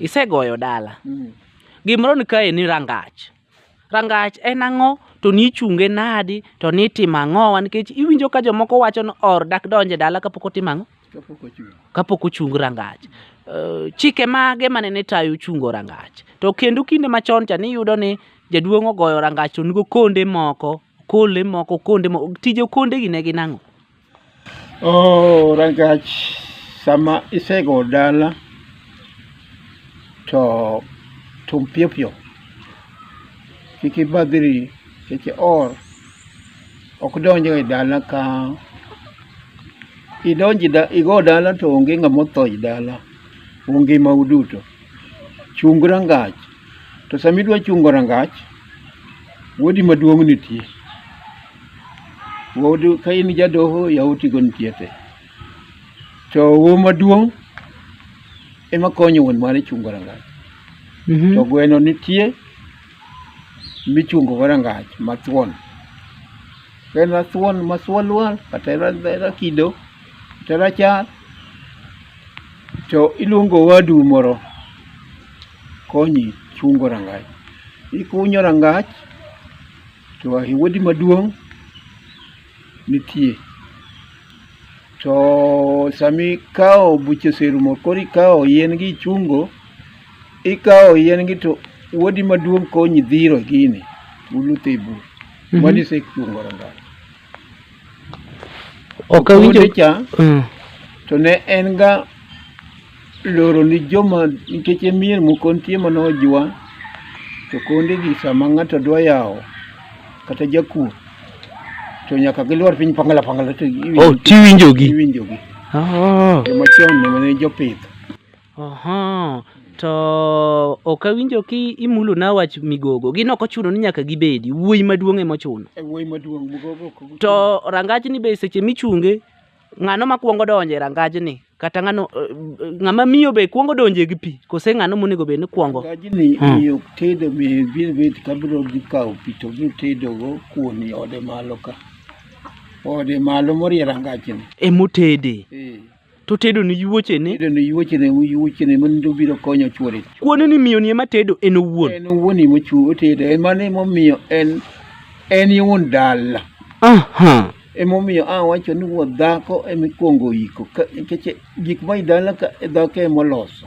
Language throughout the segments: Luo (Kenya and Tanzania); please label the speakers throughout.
Speaker 1: Isegoyo dala. Mm. Gimoro ni kae ni rangach. Rangach en ang'o to ni ichunge nadi to ni itimo ang'owa nikech iwinjo ka jomoko wacho ni or dak donje dala kapok otimo ang'o? Kapok ochung rangach. Uh, chike mage mane ni tayo chungo rangach. To kendo kinde machon cha ni iyudo ni jaduong' ogoyo rangach to nigo konde moko Okonde moko okonde moko tij okonde gi ne gin ang'o? Oh, rangach sama isego dala to tum piyo piyo kik ibadhri kik ior ok donj e dala ka idonji da, igo dala to onge ng'ama otho e dala ungima uduto chung rangach To sama idwa chungo rangach, wuodi maduong' nitie. Wuodu ka in jadoho, yawotigo nitie te. To wuo maduong' ema konyo wuon mare chungo rangach. Mhm. To gweno nitie michungogo rangach mathuon. Ka en rathuon ma thuon lwar, kata en ra- rakido, kata rachar, To iluongo owadu moro konyi chungo rangach. Ikunyo rangach to owadi maduong' nitie. To sama ikawo buche oserumo koro ikawo yien gi ichungo, ikawo yien gi to owadi maduong' konyi dhiro gini, uluto e bur. Mano isechungo rangach. ok awinjo cha mm. to ne en ga loro ni joma nikech e mier moko nitie mana ojwa to konde gi sama ng'ato dwa yawo kata jakuo to nyaka gilwar piny pangala pangala to oh, tiwinjogi iwinjogi oh. jomachon ne jopith Oho, to ok awinjo ki imulo na wach migogo. Gin ok ochuno ni nyaka gibedi. Wuoyi maduong' ema ochuno. E wuoyi maduong' mugogo ok ochuno. To rangajni be seche michunge, ng'ano makwongo donjo e rangajni? Kata ng'ano eh, ng'ama miyo be kwongo donjo gi pi? Kose ng'ano monego bed ni kwongo? Rangajni Hmm. miyo tedo miyo biro bet ka biro dhi kawo pi to biro tedogo kuon i ode malo ka. Ode malo morie rangajni. Emotede. Eh. to tedo ni yuochene Tedo ni yuochene yuochene mon to biro konyo chwore. kuone ni miyoni ema tedo en owuon En owuon ema ochu otedo en mano ema omiyo en en e wuon dala. aha Ema omiyo a wacho ni wuod dhako ema ikwongo iko ka- nikech gik ma idala ka dhako ema oloso.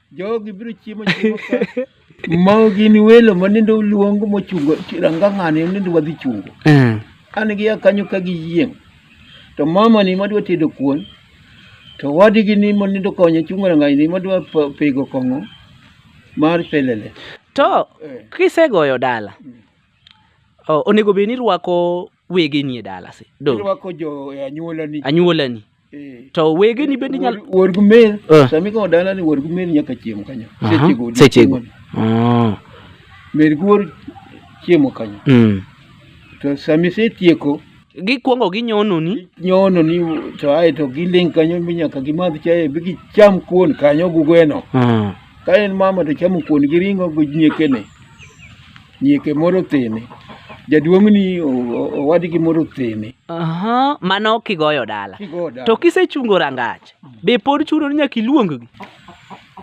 Speaker 1: Jogi biro chiemo chiemo ka. Mau gin welo ma nende oluong mochungo ranga ng'ane nende wadhi chungo. Eh. An gi ya kanyo ka gi yieng'. To mama ni madwa tedo kuon. To wadigi ni ma nende okonyo chungo ranga ni madwa pa- pego kong'o mar pelele. To Eh. kisegoyo dala, o- onego bed ni irwako wege nie dalasi do irwako jo e anyuolani anyuolani Eh. to wege ni bende nyalo Wuod- wuod gumer Eh. sama ikawo dala ni wuod gumer nyaka chiemo kanyo Aha, sechego odiechieng' sechego. mane. Ah, mer guor chiemo kanyo mm. to sama isetieko gikwongo ginyononi nyono ni to ae to giling kanyo mi nyaka gimadh chae bi gicham kuon kanyo gugweno Ah, ka en mama to chamo kuon gi ring'o gi nyiekene Nyieke moro othene. Jaduong'ni owadgi moro othene. Aha, mano kigoyo dala. Kigoyo dala. To kisechungo rangach, be pod chuno ni nyaka iluonggi?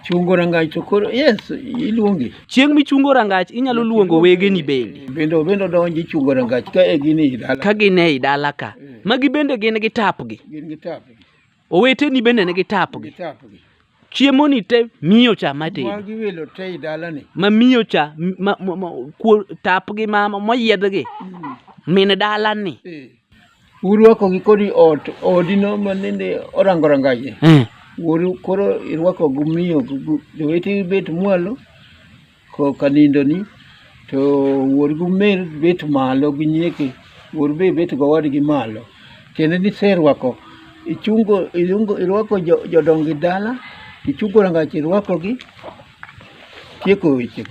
Speaker 1: Chungo rangach to koro yes, iluongi. Chieng' michungo rangach inyalo luongo wegeni bende. Bende bende donji chungo rangach ka e gin e dala. Ka gin e dala ka. Eh. Magi bende gin gi tapgi. Gin gi tapgi. Oweteni bende nigi tapgi. Nigi tapgi. Chiemoni te miyo cha matedo. Mwa gi welo te i dalani. Ma miyo cha ma, ma, ma, kuo, tapgi ma moyiedhgi. Mm. Min dalani. E. Urwakogi kodi ot odino ma nende orango rangaje. Mm. Wuoru koro irwako gumiyo jowetegi bet mwalo. Koka nindoni to wuor gi umer bet malo gi nyieke, wuor be bet gowadgi malo. Tiende ni iserwako, ichungo, iluongo, irwako jo- jodongi dala, ichungo rangach irwakogi, tieko wechego.